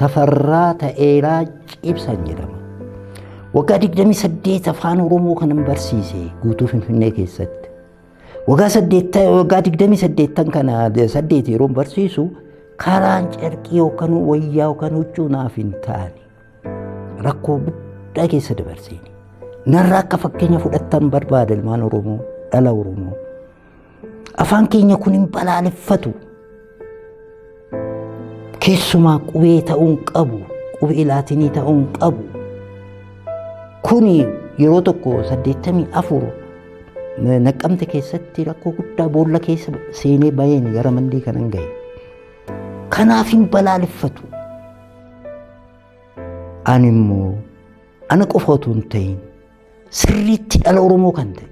Tafarraa Ta'eeraa Cibsaan jedhama. Waggaa 28 afaan Oromoo kanan barsiise guutuu Finfinnee keessatti. Waggaa 8 waggaa 28 kana 8 yeroo barsiisu karaan carqii yookaan wayyaa yookaan huccuu naaf hin taane. Rakkoo guddaa keessa dabarseen narraa akka fakkeenya fudhattan barbaada ilmaan Oromoo dhala Oromoo. Afaan keenya kun hin balaaleffatu. Keessumaa qubee ta'uu hin qabu. Qubee laatinii ta'uu hin qabu. Kuni yeroo tokko saddeettamii afur naqqamte keessatti rakkoo guddaa boolla keessa seenee baheen gara mandii kanan gahe. Kanaaf hin balaaleffatu. Ani immoo ana qofa otoo hin ta'in sirriitti dhala Oromoo kan ta'e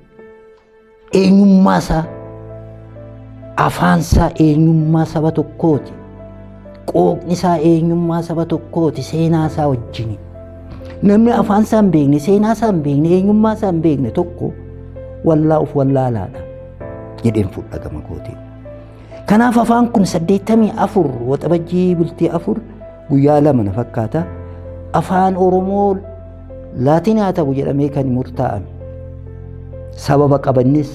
eenyummaa isaa afaan isaa eenyummaa saba tokkooti qooqni isaa eenyummaa saba tokkooti seenaa isaa wajjin namni afaan isaa hin beekne seenaa isaa hin beekne eenyummaa isaa hin beekne tokko wallaa of wallaalaadha jedheen fudhatama kootiin. Kanaaf afaan kun 84 waxabajjii bultii afur guyyaa lama na fakkaata. Afaan Oromoo laatinaa ta'u jedhamee kan murtaa'ame. Sababa qabannis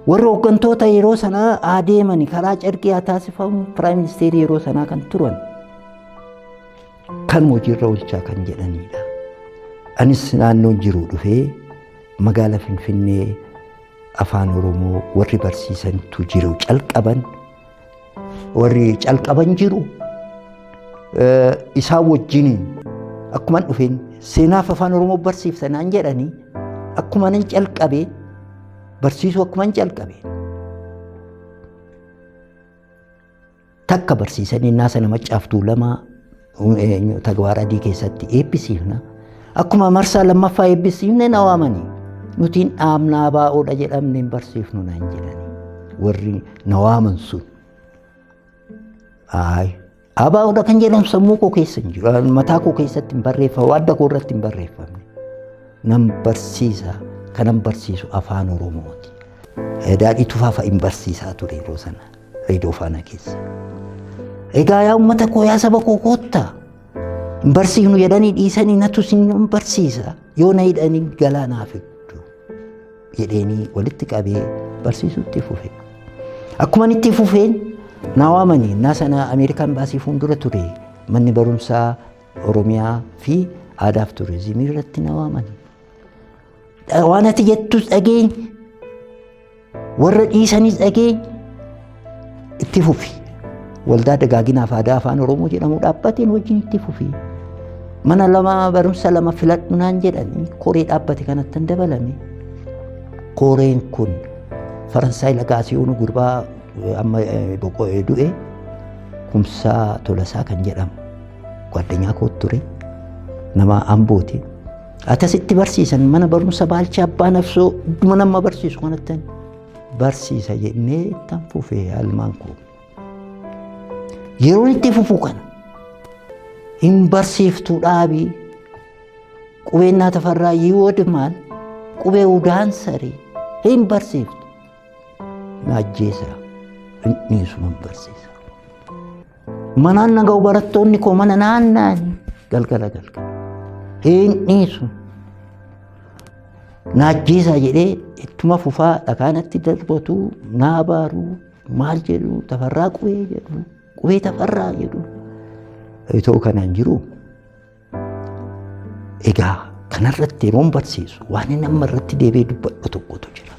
warra hooggantoota yeroo sanaa adeeman karaa carqii haa taasifamu piraayim ministeerii yeroo sanaa kan turan kan hojiirra oolchaa kan jedhanidha. Anis naannoon jiru dhufee magaala Finfinnee Afaan Oromoo warri barsiisantu jiru calqaban warri calqaban jiru isaan wajjiniin akkuman dhufeen seenaaf afaan Oromoo barsiifta naan jedhanii akkuman hin calqabee barsiisuu akkuman calqabee Takka barsiisan innaa sana maccaaf tuulamaa tagwaara adii keessatti eebbisiifna. Akkuma marsaa lammaffaa eebbisiifne na waamanii nutiin dhaabnaa baa'oodha jedhamne hin barsiifnu naan jedhani. Warri na waaman sun. Ayi. Abaa'oodha kan jedhamu sammuu koo keessa hin jiru. Mataa koo keessatti hin barreeffamu. Adda koo irratti hin barreeffamne. Nan barsiisa. Kanan barsiisu afaan Oromooti. Daadhii tufaafa hin barsiisaa ture yeroo sana. Reedoo faana keessa. Egaa yaa uummata koo yaa saba koo koottaa. Hin barsiifnu jedhanii dhiisanii natu isin hin barsiisa. Yoo na hidhanii galaa naa fiddu. Jedheenii walitti qabee barsiisutti fufe. Akkuma itti fufeen naa waamanii naa sana Ameerikaan baasii fuuldura ture manni barumsaa Oromiyaa fi aadaaf turizimii irratti naa waamanii. Waan ati jettus dhageenye Warra dhiisanis dhagee itti fufi. Waldaa dagaaginaaf aadaa afaan Oromoo jedhamu dhaabbateen wajjin itti fufi. Mana lama barumsa lama filadhu naan jedhanii koree dhaabbate kanatti dabalame. Koreen kun Faransaay Lagaasiyoonu gurbaa amma boqo'ee du'e kumsaa tolasaa kan jedhamu ጓደኛ ኮት ture nama ambooti Akkasitti barsiisan mana barumsa baalcha abbaa nafsoo mana amma barsiisu kanattan barsiisa jennee ittan fufee almaan koo. Yeroon itti fufuu kana hin barsiiftuu dhaabii qubeen naa tafarraa yiwood maal qubee udaan saree hin barsiiftu. Na ajjeesa hin dhiisu hin barsiisa. Manaan naga'u barattoonni koo mana naanna'anii galgala galgala. Hin dhiisu. Naajjeesaa jedhee ittuma fufaa dhagaanatti darbatu naa baaru maal jedhu tafarraa qubee jedhu qubee tafarraa jedhu. Itoo kanaan jiru Egaa kanarratti yeroon barsiisu waan inni amma irratti deebi'ee dubbadhu tokkotu jira.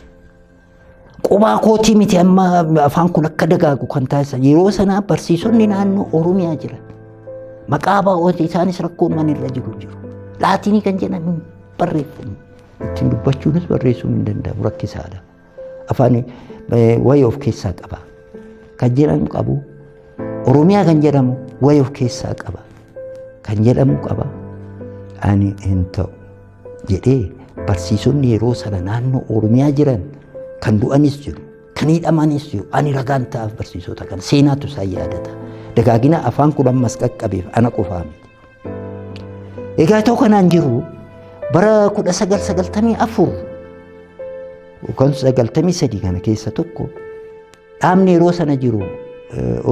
Qubaa kootii miti amma afaan kun akka dagaagu kan taasisan yeroo sanaa barsiisonni naannoo Oromiyaa jiran maqaa baa'ooti isaanis rakkoo uuman irra jiru jiru. Laatinii kan jedhan barreeffamu ittiin dubbachuunis barreessuun hin danda'amu rakkisaadha. afaan wayii of keessaa qaba. Kan jedhamu qabu Oromiyaa kan jedhamu wayii of keessaa qaba. Kan jedhamu qaba ani hin ta'u jedhee barsiisonni yeroo sana naannoo Oromiyaa jiran kan du'anis jiru kan hidhamanis jiru ani ragaan ta'aaf barsiisota kan seenaatu isaan yaadata. Dagaagina afaan kun ammas qaqqabeef ana qofaa miti. Egaa itoo kanaan jiru bara 1994 yookaan 93 kana keessa tokko dhaabni yeroo sana jiru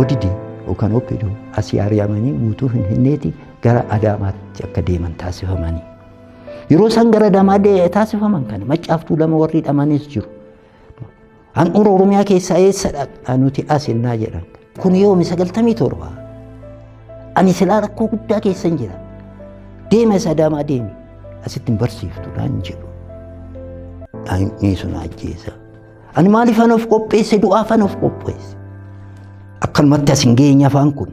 odidi yookaan oppidu asii ari'amanii guutuu finfinneeti gara adaamaatti akka deeman taasifamanii. Yeroo isaan gara adamaa taasifaman kana maccaaftuu lama warri dhamanis jiru. Handhuura Oromiyaa keessaa eessadha? Nuti as innaa jedhan. Kun yoomi sagaltamii torba. Ani silaa rakkoo guddaa keessa hin jira. Deema isa adaamaa deemi. Asitti hin barsiiftu naan jedhu. Daa'imni sun ajjeesa. Ani maaliif an of qopheesse du'aaf an of qopheesse. Akkanumatti as hin geenye afaan kun.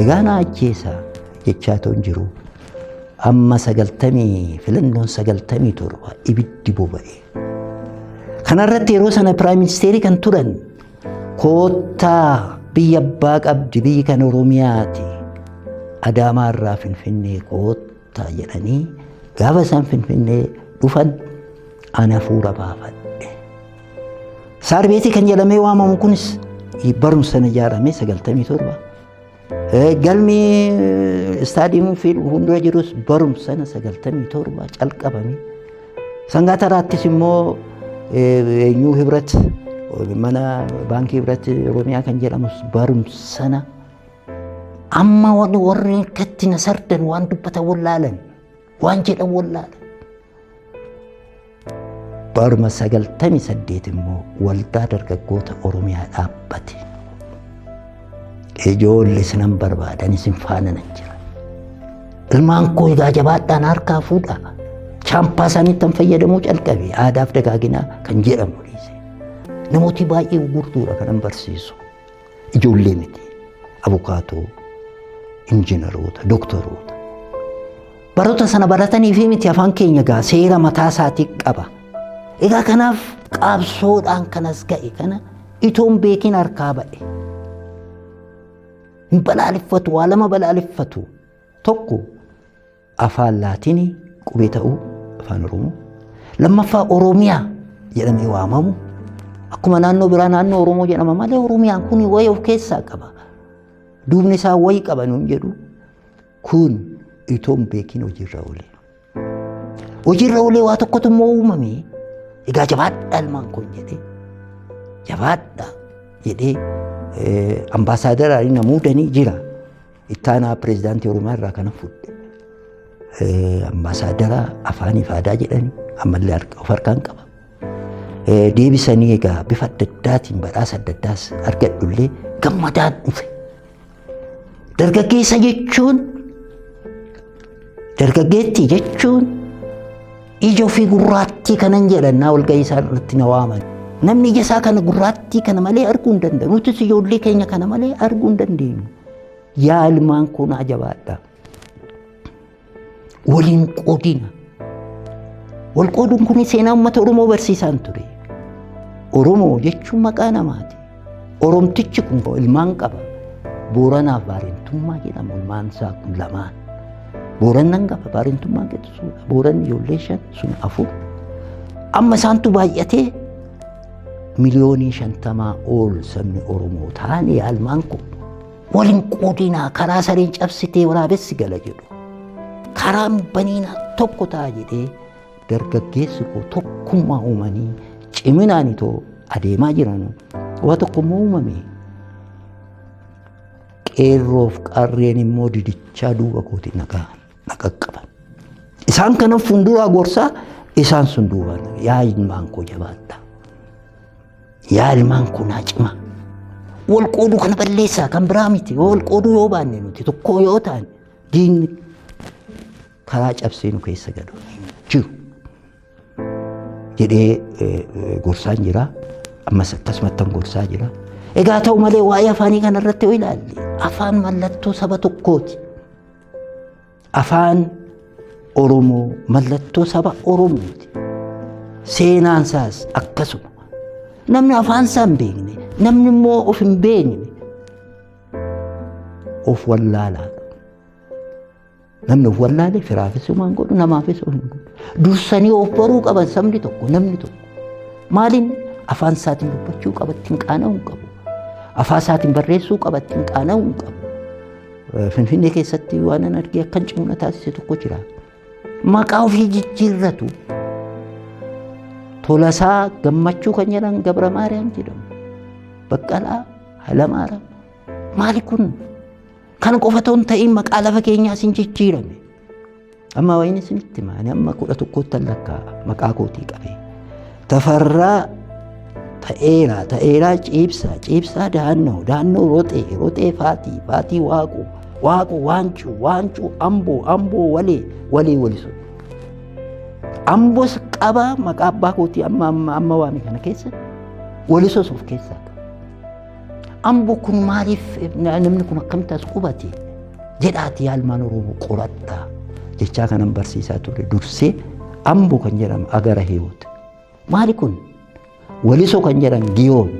Egaa na ajjeesa jechaa toon jiru amma sagaltamii filannoon sagaltamii torba ibiddi boba'e. Kanarratti yeroo sana piraayim ministeerii kan turan koottaa biyya abbaa qabdi biyyi kan Oromiyaati. Adaamaa irraa Finfinnee koottaa. ta'a jedhanii gaafa isaan finfinnee dhufan an hafuura baafadhe. Saarbeetii kan jedhamee waamamu kunis barumsa na ijaarame sagaltamii torba. Galmi istaadiyeemuu fi hundura jirus barumsa na sagaltamii torba calqabame. Sangaa taraattis immoo eenyuu hibrat mana baankii hibrat Oromiyaa kan jedhamus barumsa na Amma waan warri katti na sardan waan dubbatan wallaalan waan jedhan wallaalan. Baruma sagaltamii saddeet immoo waldaa dargaggoota Oromiyaa dhaabbate. Ijoollee isinan barbaadan isin faana nan jira. Ilmaan koo egaa jabaadhaan harkaa fuudhaa. Chaampaa isaaniitti kan fayyadamuu calqabe aadaaf dagaaginaa kan jedhamu dhiise. Namooti baay'ee gurguudha kanan barsiisu. Ijoollee miti. Abukaatoo, injiinaroota, dooktaroota. Baroota sana baratanii fi miti afaan keenya gaa seera mataa isaatii qaba. Egaa kanaaf qaabsoodhaan kanas ga'e kana itoon beekiin harkaa ba'e. Hin balaaleffatu, waa lama balaaleffatu. Tokko Afaan Laatiinii qubee ta'uu afaan Oromoo. Lammaffaa Oromiyaa jedhamee waamamu. Akkuma naannoo biraa naannoo Oromoo jedhama malee Oromiyaan kun wayii of keessaa qaba. Duubni isaa wayii qaba nuun jedhu. Kun itoo hin beekin hojiirra oolee. Hojiirra oolee waa tokkotu immoo uumame. Egaa jabaadhaa ilmaan kun jedhee. Jabaadhaa jedhee ambaasaadara na muudanii jira. Ittaanaa pireezidaantii Oromiyaa irraa kana fudhe. Ambaasaadara afaaniif aadaa jedhanii ammallee of harkaan qaba. Deebisanii egaa bifa adda addaatiin badhaasa adda addaas argadhullee gammadaan dhufe. Dargaggeessa jechuun Dargaggeettii jechuun ija ofii gurraattii kanan jedhannaa walga'ii isaa irratti na waaman. Namni ija isaa kana gurraattii kana malee arguu hin danda'u. Nutis ijoollee keenya kana malee arguu hin dandeenyu. Yaa ilmaan koo naa jabaadha. Waliin qoodina. Wal qooduun kun seenaa uummata Oromoo barsiisaan ture. Oromoo jechuun maqaa namaati. Oromtichi kun ilmaan qaba. Booranaaf baarentummaa jedhama ilmaan isaa kun lamaan. Boorannan qaba baarentummaa qixxisuudha. Booranni ijoollee shan sun afur. Amma isaantu baay'atee miliyoonii shantamaa ol sabni Oromoo taane ilmaan kun waliin qoodinaa karaa sareen cabsitee waraabessi gala jedhu. Karaan baniinaa tokko ta'a jedhee dargaggeessi koo tokkummaa uumanii ciminaan itoo adeemaa jiran waa tokkummaa uumame. Qeerroof qarreen immoo didichaa duuba kooti nagaa naqaqqaban. Isaan kana fuulduraa gorsaa isaan sun duubaan yaa ilmaan koo jabaadha. Yaa ilmaan koo naa cimaa. Wal qooduu kana balleessaa kan biraa miti. Wal qooduu yoo baanne nuti tokkoo yoo taane diinni karaa cabsee nu keessa galu hin jiru jedhee eh, eh, gorsaan jira. Ammas akkasumattan gorsaa jira. Egaa ta'u malee waa'ee afaanii kana irratti yoo ilaalle afaan mallattoo saba tokkooti. Afaan Oromoo mallattoo saba Oromooti. Seenaan isaas akkasuma. Namni afaan isaa hin beekne, namni immoo of hin beekne of wallaalaadha. Namni of wallaalee firaafis homaan godhu namaafis homaan godhu. Dursanii of baruu qaban sabni tokko namni tokko. Maaliin afaan isaatiin dubbachuu qaba ittiin qaana'uu hin qabu. Afaan isaatiin barreessuu qaba ittiin qaana'uu hin qabu. Finfinnee keessatti waan an argee akkan cimna taasise tokko jira. Maqaa ofii jijjiirratu. Tolasaa gammachuu kan jedhan Gabra Maariyaam jedhamu. Baqqalaa Halamaara. Maali kun? Kana qofa otoo hin ta'iin maqaa lafa keenyaa isin jijjiirame. Amma wayiin isinitti hima. Ani amma kudha tokkootti lakkaa maqaa kootii qabee. Tafarraa ta'eeraa ta'eeraa ciibsaa ciibsaa daannoo daannoo roxee roxee faatii faatii waaquu waaquu waancuu waancuu amboo amboo walee walee walisu. Amboos qabaa maqaa abbaa kootii amma amma amma waame kana keessa walisoos of keessaa qaba. Ambo kun maaliif namni kun akkamitti as qubate jedhaati yaalmaan Oromoo qoradhaa jechaa kanan barsiisaa ture dursee Ambo kan jedhamu Agara Hiwoot. Maali kun? Waliso kan jedhan Giyoon.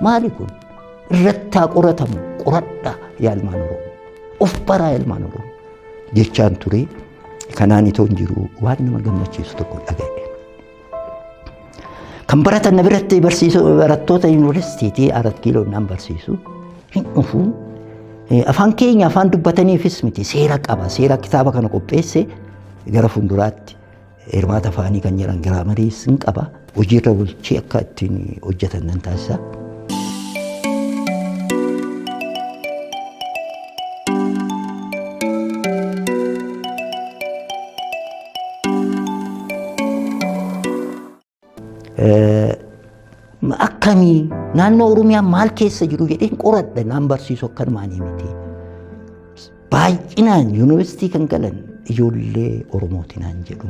Maali kun? Irrattaa qoratamu qoradhaa yaalmaan Oromoo. Of baraa yaalmaan Oromoo. Jechaan ture kanaan itoo hin jiru waan nama gammachiisu tokko dhaga'e. Kan baratan na biratti barsiisuu barattoota yuunivarsiitiitii Arat Kiiloo naan barsiisu hin dhufu. Afaan keenya afaan dubbataniifis miti seera qaba. Seera kitaaba kana qopheesse gara fuulduraatti hirmaata afaanii kan jedhan giraamariis hin qaba. Hojiirra bulchee akka ittiin hojjetan nan taasisa. Akkamii naannoo Oromiyaa maal keessa jiru jedheen qoradha naan barsiisu akkanumaan miti. Baay'inaan yuunivarsiitii kan galan ijoollee Oromooti naan jedhu.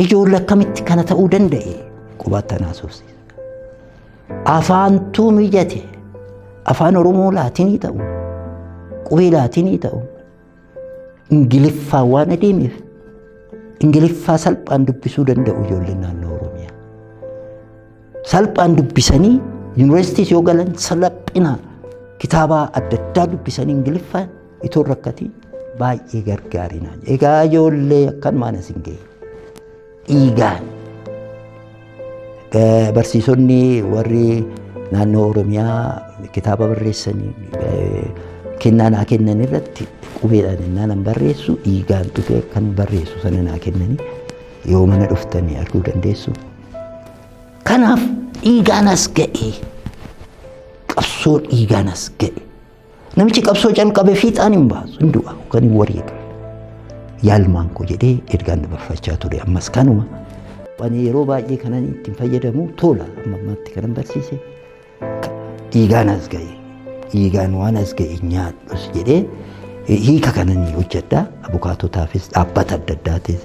Ijoollee akkamitti kana ta'uu danda'e qubaatti anaa soofsiisa. Afaantuu mijate afaan Oromoo laatinii ta'u qubee laatinii ta'u Ingiliffaa waan adeemeef Ingiliffaa salphaan dubbisuu danda'u ijoolleen naannoo Oromiyaa. Salphaan dubbisanii yuunivarsiitiis yoo galan salphina kitaabaa adda addaa dubbisanii Ingiliffaan itoo rakkatii baay'ee gargaarinaa. Egaa ijoollee akkanumaan isin ga'e. dhiigaan eh, barsiisonni warri naannoo Oromiyaa kitaaba barreessanii eh, kennaa naa kennan irratti qubeedhaan innaan an barreessu dhiigaan dhufee kan barreessu sana naa kennanii yoo mana dhuftanii arguu dandeessu. Kanaaf dhiigaan as ga'e qabsoo dhiigaan as ga'e. Namichi qabsoo calqabe fiixaan hin baasu hin du'a kan hin wareega. Yaalmaan koo jedhee ergaan dabarfachaa ture ammas kanuma. Ani yeroo baay'ee kanan ittiin fayyadamu tola amma ammatti kanan barsiise dhiigaan as ga'e dhiigaan waan as ga'e nyaadhus jedhee hiika kanan hojjedha abukaatotaafis dhaabbata adda addaatis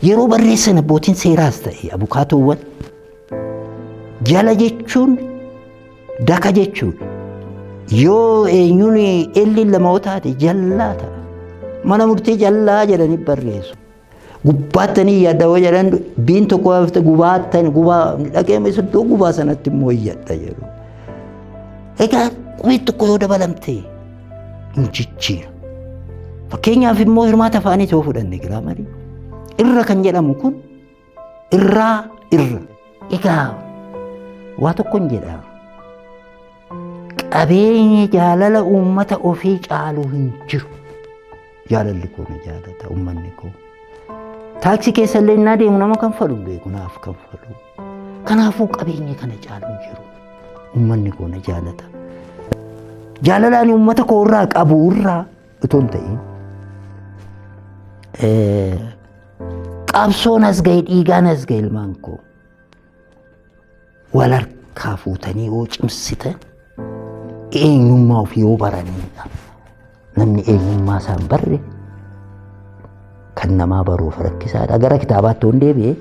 yeroo barreessan abbootiin seeraas ta'e abukaatoowwan jala jechuun Daka jechuun yoo eenyuun elli lama yoo taate jallaa ta'a. Mana murtii jallaa jedhanii barreessu. Gubbaattanii yaadda yoo jedhan biin tokko hafte gubaattan gubaa dhaqee iddoo gubaa sanatti immoo iyyadha jedhu. Egaa qubeen tokko yoo dabalamte hin jijjiira. Fakkeenyaaf immoo hirmaata afaanii yoo fudhanne giraamarii irra kan jedhamu kun irraa irra egaa waa tokkon jedha qabeenyi jaalala uummata ofii caalu hin jiru jaalalli koo na jaalata uummanni koo taaksii keessa illee innaa deemu nama kan falu beeku naaf kan falu kanaafuu qabeenya kana caalu hin jiru uummanni koo na jaalata jaalalaan uummata koo irraa qabu irraa utuu hin ta'in eh, qabsoon as ga'e dhiigaan as ga'e ilmaan koo wal harkaa fuutanii yoo cimsitan eenyummaa ofii yoo baraniidha. Namni eenyummaa isaan barre kan namaa baruuf rakkisaadha. Gara kitaabaatti yoon deebi'e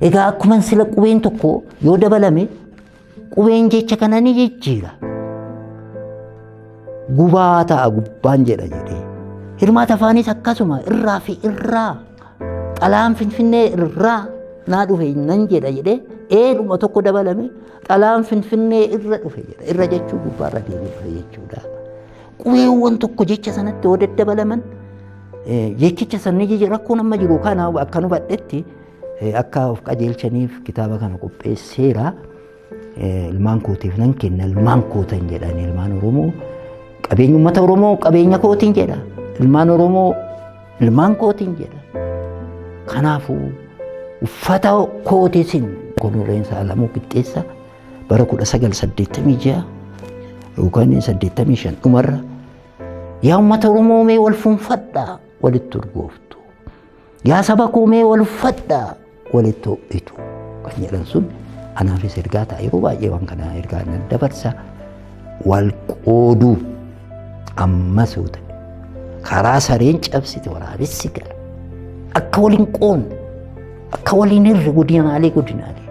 egaa akkuma sila qubeen tokko yoo dabalame Qubeen jecha kana ni jijjiira. Gubaa ta'a gubbaan jedha jedhee. Hirmaata afaanis akkasuma irraa fi irraa xalaan finfinnee irraa naa dhufe nan jedha jedhee eedhuma tokko dabalame xalaan finfinnee irra dhufe jedha. Irra jechuu gubbaarra deemee dhufe jechuudha. Qubeewwan tokko jecha sanatti yoo daddabalaman jechicha sanni rakkoo nama jiru kana akka nu badhetti Akka of qajeelchaniif kitaaba kana qopheesseera. Ilmaan kootiif nan kenna ilmaan kootan jedhan ilmaan Oromoo qabeenya uummata Oromoo qabeenya kootiin jedha. Ilmaan Oromoo ilmaan kootiin jedha. Kanaafuu uffata kootiisin Koloneel Saalamuu Qixxeessa bara 1986 yookaan 85 dhumarra yaa uummata Oromoo mee wal fuunfadhaa walitti urgooftu. Yaa saba koo mee wal uffadhaa walitti ho'itu kan jedhan sun anaafis ergaa ta'a yeroo baay'ee waan kana ergaa nan dabarsa wal qooduu ammas yoo ta'e karaa sareen cabsite waraabessi gala akka waliin qoonne akka waliin irra godinaalee godinaalee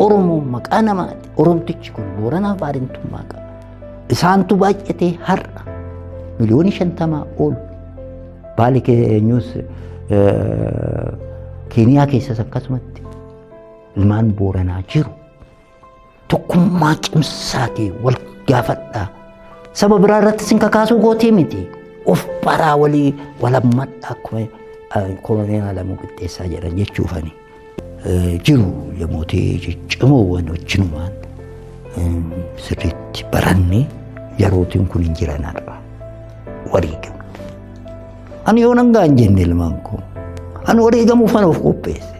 oromoon maqaa namaati oromtichi kun booranaa baarintummaa qaba isaantu baay'atee har'a miliyoonii shantamaa ol Baali keenyus Keeniyaa keessas akkasumatti ilmaan booranaa jiru. Tokkummaa cimsaatii wal gaafadhaa. Saba biraa irratti sin kakaasuu gootii miti. Of baraa walii walammadhaa akkuma koloneel Alamuu Qixxeessaa jedhan jechuufani. jiru yamoota ciccimoowwan wajjinumaan sirriitti baranne yerootiin kun hin jiran har'a wareegama. Ani yoo nangaa hin jenne ilmaan koo ani wareegamuuf kan of qopheesse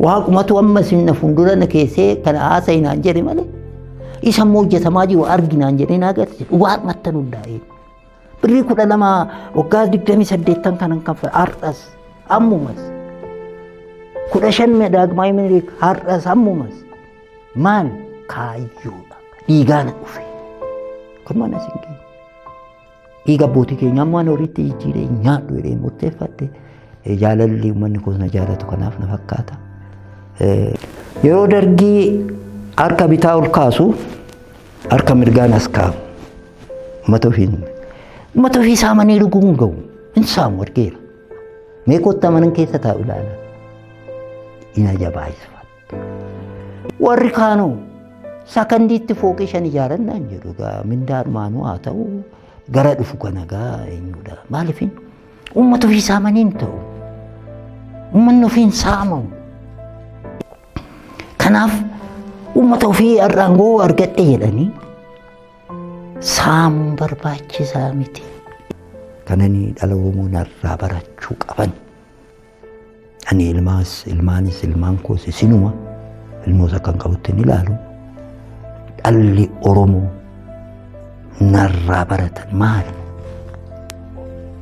waaqumatu amma isin na fuuldura na keessee kana haasa'e naan jedhe malee isa immoo hojjetamaa jiru arginaan jedhee naa agarsiise waaqumatti nu hundaa'ee. Birrii kudha lama waggaa digdamii saddeettan kanan kaffale har'as ammumas kudha shan daagmaayii minilik har'as ammumas maal kaayyoodha dhiigaana dhufe kun mana isin keenya dhiiga abbootii keenya ammoo ani horiitti jijjiiree nyaadhu jedhee murteeffatte jaalalli uummanni kun na jaalatu kanaaf na fakkaata. Yeroo dargii harka bitaa ol kaasu harka mirgaan as kaa'u. Mata ofiin mata ofii saamanii dhuguu hin ga'u. Hin saamu argeera. Mee kottaa manan keessa taa'u ilaala. Ina jabaayisa. Warri kaanoo sakandiitti fooqii shan ijaaran naan jedhu egaa mindaa dhumaanuu haa ta'u gara dhufu kana egaa eenyudha. Maaliif uummata ofii saamanii hin ta'u. Uummanni ofii hin saamamu. Kanaaf uummata ofii har'aan goo argadhe jedhanii saamuun barbaachisaa miti. Kananii dhala Oromoo narraa barachuu qaban. Ani ilmaas ilmaanis ilmaan koos isinuma ilmoos akkan qabutti hin ilaalu. Dhalli Oromoo narraa baratan maali?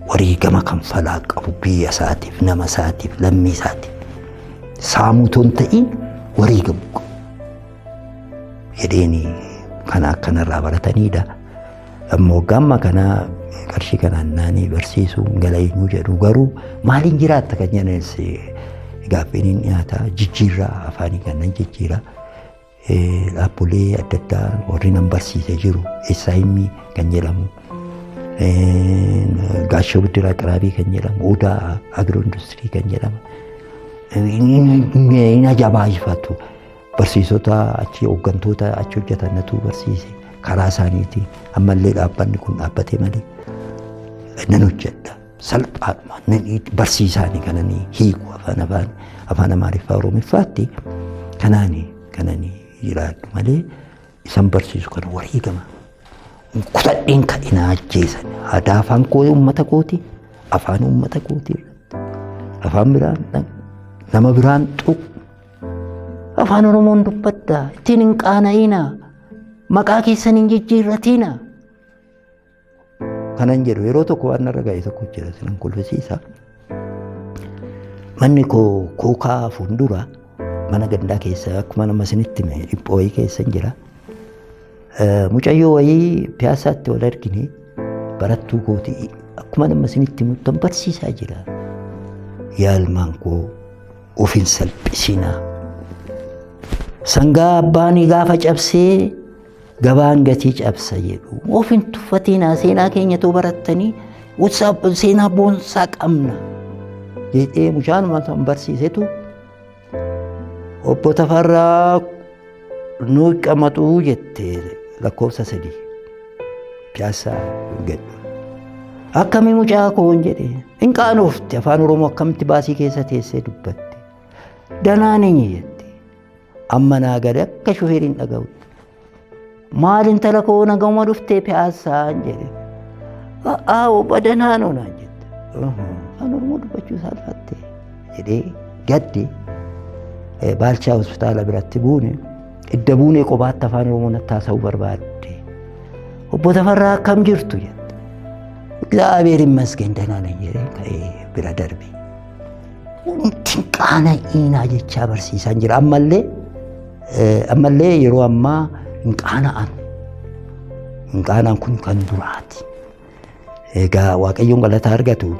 Wareegama kanfalaa qabu biyya isaatiif, nama isaatiif, lammii isaatiif. Saamuu otoo hin ta'iin wareegamu qabu. jedheeni kana akkanarraa barataniidha. Amma waggaa amma kanaa qarshii kanaan naanii barsiisuu gala eenyu jedhu garuu maaliin jiraatta kan jedhanis gaaffiin hin dhiyaata jijjiirraa afaanii kannan jijjiira. Dhaabbilee adda addaa warri nan barsiise jiru SIM kan jedhamu gaashoo biddiraa xiraabii kan jedhamu odaa agiroo industirii kan jedhamu hin ajabaayifatu. Barsiisota achi hooggantoota achi hojjetan natu barsiise karaa isaaniitiin ammallee dhaabbanni kun dhaabbatee malee nan hojjedha. Salphaadhuma nan barsiisaani kananii hiiku afaan afaan afaan amaariffaa oromiffaatti kanaani kananii jiraadhu malee isan barsiisu kana wareegama. Kutadheen kan hin ajjeesan aadaa afaan koo uummata kooti afaan uummata kooti irratti afaan biraan nama biraan xuq Afaan Oromoon dubbatta ittiin hin qaana'ina maqaa keessan hin jijjiirratina. Kanan jedhu yeroo tokko waan narra ga'e tokko jira sinan kolfisiisa. Manni koo kookaa fuuldura mana gandaa keessa akkuma nama isinitti hime dhiphoo wayii keessa hin jira. Mucayyoo wayii piyaasaatti wal argine barattuu kooti akkuma nama isinitti himuttan barsiisaa jira. Yaalmaan koo Of hin salphisinaa. Sangaa abbaan gaafa cabsee gabaan gatii cabsa jedhu. Of hin tuffatinaa seenaa keenya too barattanii seenaa boonsaa qabna. Jedhee mucaan kan barsiisetu obbo Tafarraa Nuu qamaxuu jette lakkoofsa sadii piyaassaa gadhu. Akkamii mucaa koon jedhe hin qaanoofte afaan oromoo akkamitti baasii keessa teessee dubbatte. Danaa ninyi jette amma naa gade akka shufeeriin dhaga'u. Maal intala koo nagahuma dhuftee piyaassaan jedhe. A'aa obba danaa noonaan jette. Afaan oromoo dubbachuu saalfattee. jedhee gadde eh, baalchaa hospitaala biratti buune idda buunee qobaatti afaan oromoo natti haasa'uu barbaadde obbo Tafarraa akkam jirtu jette Egzaabeer immasgeen danaa nan jedhee ka'ee bira darbe wanti qaana iinaa jechaa barsiisaan jira ammallee eh, ammallee yeroo ammaa hin qaana'an hin qaana'an kun kan duraati. Egaa Waaqayyoon galataa argatu.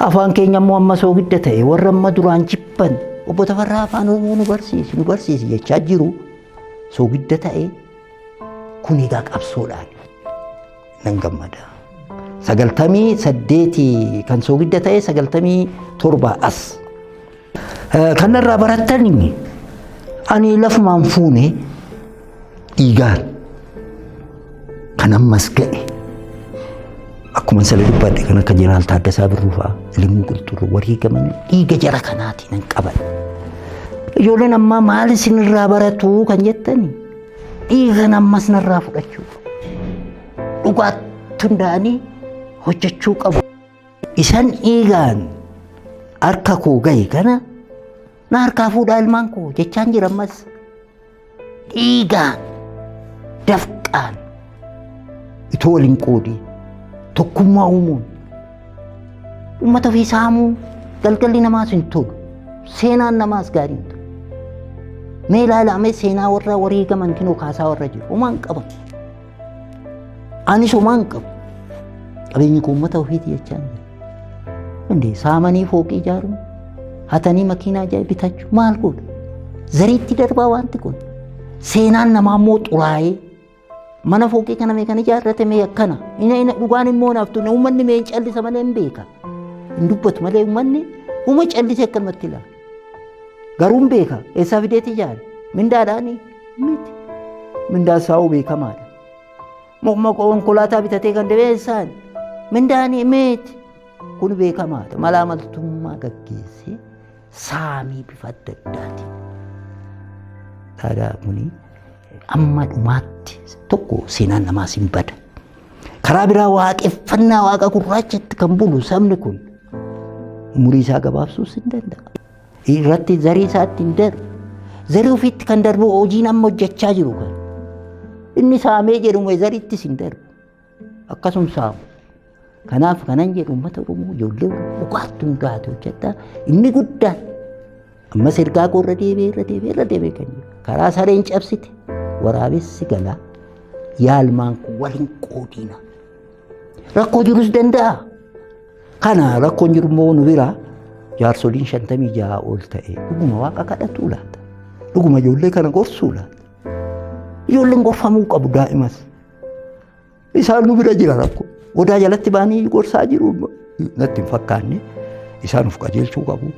Afaan keenya immoo amma soogidda ta'e warra amma duraan jibban obbo Tafarraa afaan Oromoo nu barsiisi nu barsiisi jechaa jiru soogidda ta'e kun egaa qabsoodhaan nan gammada. Sagaltamii saddeetii kan soogidda ta'e sagaltamii torba as. Kanarraa barattan ani lafumaan fuune dhiigaan kan ammas ga'e akkuma isa dubbadhe kan akka jeneraal Taaddasaa Birruu fa'aa Ilimmuu Qilxurruu warri gaman dhiiga jara kanaatiin hin qaban. Ijoolleen ammaa maal isinirraa baratu kan jettani dhiigan ammas narraa fudhachuu dhugaatti hundaa'anii hojjechuu qabu. Isan dhiigaan harka koo gahe kana na harkaa fuudhaa ilmaan koo jechaan jira ammas. Dhiigaan dafqaan itoo waliin qoodii tokkummaa uumuun uummata ofii saamuu galgalli namaas hin tolu seenaan namaas gaarii hin tolu. Mee ilaalamee seenaa warra wareegaman kinoo kaasaa warra jiru homaa hin qaban. Ani somaan qabu. Qabeenyi koo uummata ofiiti jechaa hin jiru. Hundee saamanii fooqii ijaaruun hatanii makiinaa ajaa'iba bitachuu maal godhu? Zariitti darbaa wanti kun. Seenaan namaa immoo xuraa'ee mana fooqii kana mee kan ijaarrate mee akkana. Ina ina dhugaan immoo naaf tunne uummanni mee hin callisa malee hin beeka. Hin dubbatu malee uummanni uuma callise akkanumatti ilaala. Garuun beeka eessaa fideeti jaal mindaadhaani miti mindaan saa'uu beekamaadha. Mukma konkolaataa bitatee kan deemee eessaan mindaani miti kun beekamaadha malaa maltummaa gaggeessee saamii bifa adda addaatiin. Taadaa kuni amma dhumaatti tokko seenaan namaas hin bada. Karaa biraa waaqeffannaa waaqa gurraachatti kan bulu sabni kun umurii isaa gabaabsuus hin danda'a. Irratti zarii isaatti hin darbu. Zarii ofiitti kan darbu hojiin amma hojjechaa jiru kan. Inni saamee jedhume zariittis hin darbu. Akkasuma saamu. Kanaaf kanan jedhu uummata Oromoo ijoollee Oromoo dhugaatti hundaa'ate hojjedhaa inni guddaan Ammas ergaa koo irra deebi'ee irra deebi'ee irra deebi'ee kan jiru. Karaa sareen cabsite waraabessi galaa yaalmaan kun wal hin qoodina. Rakkoo jirus danda'a. Kana rakkoon jiru immoo nu biraa jaarsoliin shantamii ja'a ol ta'e dhuguma waaqa kadhatuu laata. Dhuguma ijoollee kana gorsuu laata. Ijoolleen gorfamuu qabu daa'imas. Isaan nu bira jira rakkoo. Odaa jalatti baanii gorsaa jiru natti hin fakkaanne. Isaan of qajeelchuu qabu.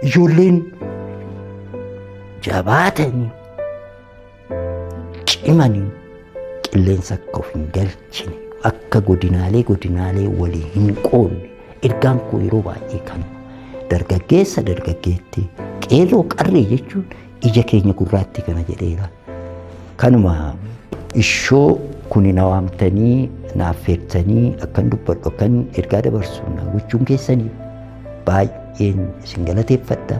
Ijoolleen jabaatanii cimanii qilleensa akka of hin galchine akka godinaalee godinaalee walii hin qoodne ergaan koo yeroo baay'ee kanuma. Dargaggeessa dargaggeetti qeerroo qarree jechuun ija keenya gurraatti kana jedheera. Kanuma ishoo kuni na waamtanii na affeertanii akkan dubbadhu akkan ergaa dabarsu na gochuun keessanii baay'een isin galateeffadha.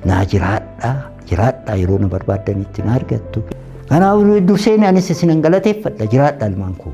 Naa jiraadha jiraadha yeroo na barbaaddanitti na argattu. Kanaaf dursee anis isin galateeffadha jiraadha ilmaan koo.